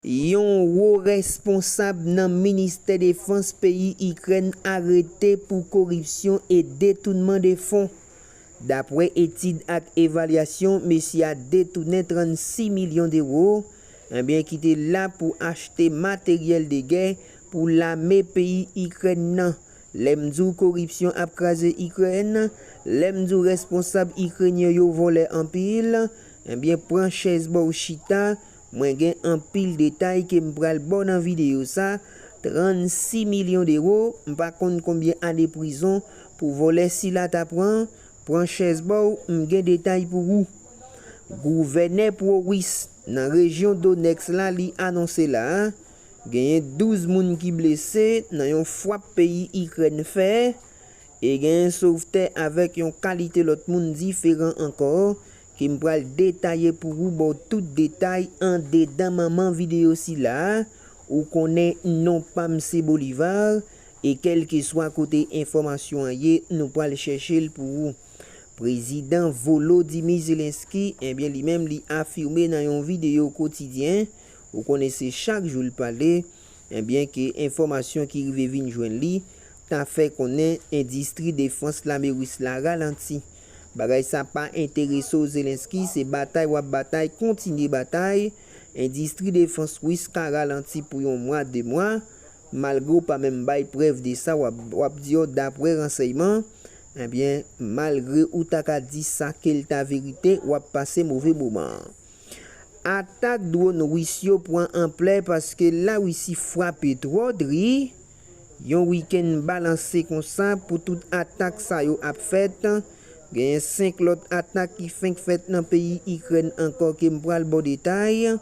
Yon wo responsab nan Ministè Defans peyi Ikrèn arete pou koripsyon e detounman de fon. Dapwè etid ak evalyasyon mesye a detounen 36 milyon dewo, enbyen ki te la pou achte materyèl de gè pou lame peyi Ikrèn nan. Lè m di w koripsyon ap kraze Ikrèn, lè m di w responsab Ikrenyen yo vòlè anpil, enbyen pran chèz ba w chita Mwen gen anpil detay ke m pral baw nan video sa, 36 milyon dewo, m pa konn konbyen ane prizon pou vòlè sila ta pran, pran chèz baw m gen detay pou wou. Gouvènè pro Wis nan rejyon Donetsk la li anonse la, genyen 12 moun ki blese nan yon fwap peyi Ikrèn fè, e genyen sovtè avèk yon kalite lòt moun diferan ankò Ke m pral detaye pou ou ba w tout detay andedan manman videyo sila a, ou konnen non pa m se Bolivar, e kèlkeswa kote enfòmasyon an ye nou pral chèche l pou ou. Prezidan Volodymyr Zelensky, enbyen li menm li afime nan yon videyo kotidyen, ou konnen se chak jou l pale, enbyen ke enfòmasyon ki rive vin jwenn li ta fè konnen endistri defans lame ris la ralanti. Bagay sa pa enterese w Zelensky se batay wap batay kontinye batay, endistri defans Wis ka ralanti pou yon mwa 2 mwa, malgre w pa menm bay prèv de sa wap di yo daprè ransèyman, ebyen malgre ou ta ka di sa kel ta verite wap pase move moman. Atak dwon Wis yo pwan anplè paske Larisi fwape twò dri. Yon wikenn balanse konsa pou tout atak sa yo ap fèt, genyen 5 lòt atak ki fenk fèt nan peyi Ikrèn ankò ke m pral ba w detay,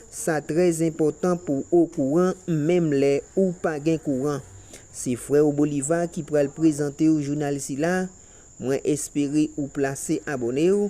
sa trè enpòtan pou w okouran menm lè ou pa gen kouran. Se frè w Bolivar ki pral prezante w jounal sila, mwen espere ou plase abòne w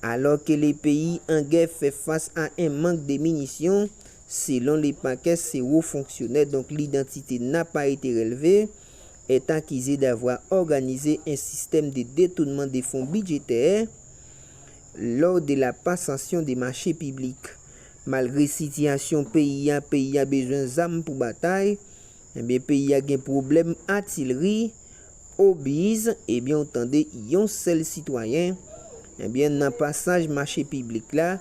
Alò ke le peyi an gè fè fas a 1 mank de minisyon, selon le pakè se wo fonksyonè donk lidantite n a pa ete relve, est akize davwa òganize 1 sistèm de detounman de fon bidjetè lò de la pasansyon de mache piblik. Malgre sitiyasyon peyi a peyi a bezwen zam pou batay, Ebyen peyi a gen pwoblèm atilri, obis, ebyen w tande yon sèl sitwayen, ebyen nan pasaj mache piblik la,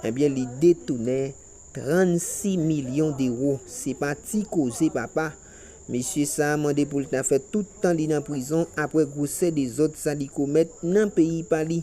ebyen li detounen 36 milyon dewo, se pa ti koze papa, mesye sa a mande pou l ta fè tout tan li nan prizon aprè gwosè dezòd sa li komèt nan peyi pa li.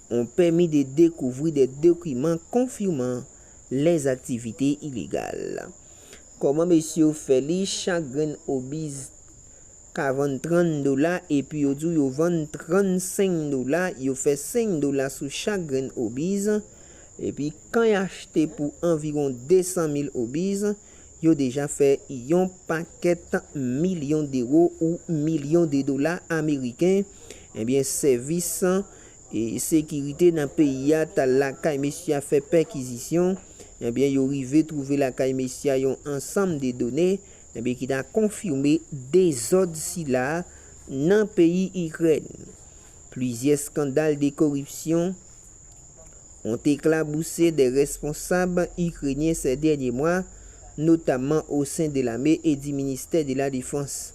On pèmi de dekouvri de dokiman konfiman lèz aktivite ilegal. Koman mesye yo fè li chak grenn obiz ka vann 30 dola epi yo diw yo vann 35 dola yo fè 5 dola sou chak grenn obiz epi kan y achte pou anviron 200 mil obiz yo deja fè yon pakèt milyon dewo ou milyon de dola ameriken ebyen sèvis Sekirite nan peyi a tal lakay mesye a fè pèkizisyon, ebyen yo rive twouve lakay mesye a yon ansanm de done, ebyen ki ta konfime dezòd sila a nan peyi Ikrèn. Plizyè skandal de koripsyon ont eklabouse de responsab Ikrenyen sè dènye mwa, notamman osen de lame e di ministè de la defans.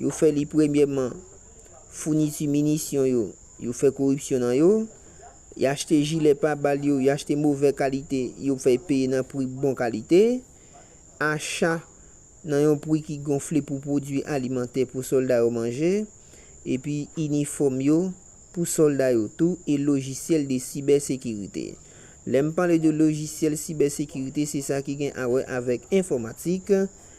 yo fè li premyèman founiti minisyon yo, yo fè koripsyon nan yo, y achte jilè pa bal yo, y achte movè kalite yo fè peye nan pri bon kalite, acha nan yon pri ki gonfle pou pwodui alimantè pou sòlda yo manje, epi inifòm yo pou sòlda yo tou e lojisyèl de sibè sekirite. Lè m pale de lojisyèl sibè sekirite se sa ki gen awè avèk enfòmatik,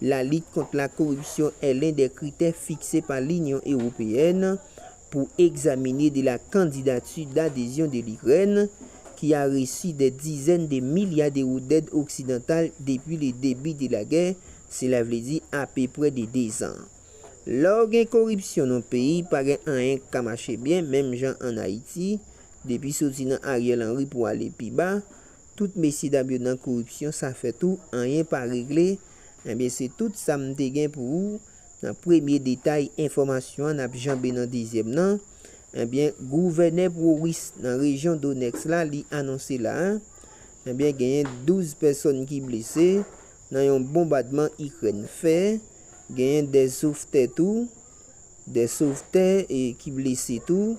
La lit kont la koripsyon è len dè kritè fikse pa Linyon Ewopeyèn pou egzamine de la kandidati dadezyon de Likrèn, ki a resi dè dizèn de milya dewo dèd oksidantal depi le debi de la gè, sela vle di apeprè de dezan. Lè w gen koripsyon nan w peyi, pa gen anyen k ka mache byen, menm jan ann Ayiti, depi soti nan Ariel Henry pou ale pi ba, Tout mesye dam yo nan koripsyon sa fè tou anyen pa regle ebyen se tout sa m te gen pou ou nan premye detay enfòmasyon an nap janbe nan dezyèm nan ebyen gouvènè prowis nan rejyon donèks la li anonse la a ebyen genyen 12 pèsòn ki blese nan yon bonbadman ikrèn fè genyen 2 sovtè tou 2 sovtè ki blese tou.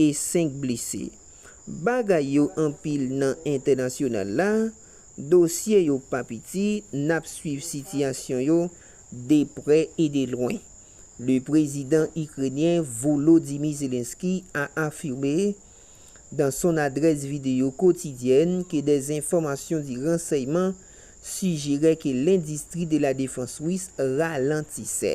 e 5 blese. Bagay yo anpil nan entènasyonal la, dosye yo pa piti, n ap swiv sitiyasyon yo de prè e de lwen. Le prezidan Ikrenyen Volodymyr Zelensky a afime dan son adrès videyo kotidyèn ke des enfòmasyon di ransèyman sijere ke lendistri de la defans Ris ralantisè.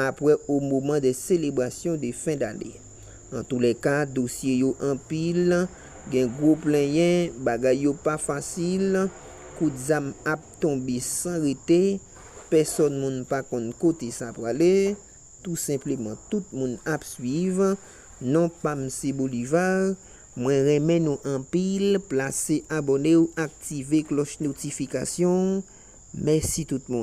apre o moman de selebrasyon de fen dane. Antoulèka, dosye yo anpil, gen gwo plenyen, bagay yo pa fasil, kout zam ap tonbe san rete, pèsòn moun pa konn kote sa prale, tou senpleman tout moun ap swiv, non pam se Bolivar, mwen renmen nou anpil, plase abònew aktive klòch notifikasyon, mèsi tout moun.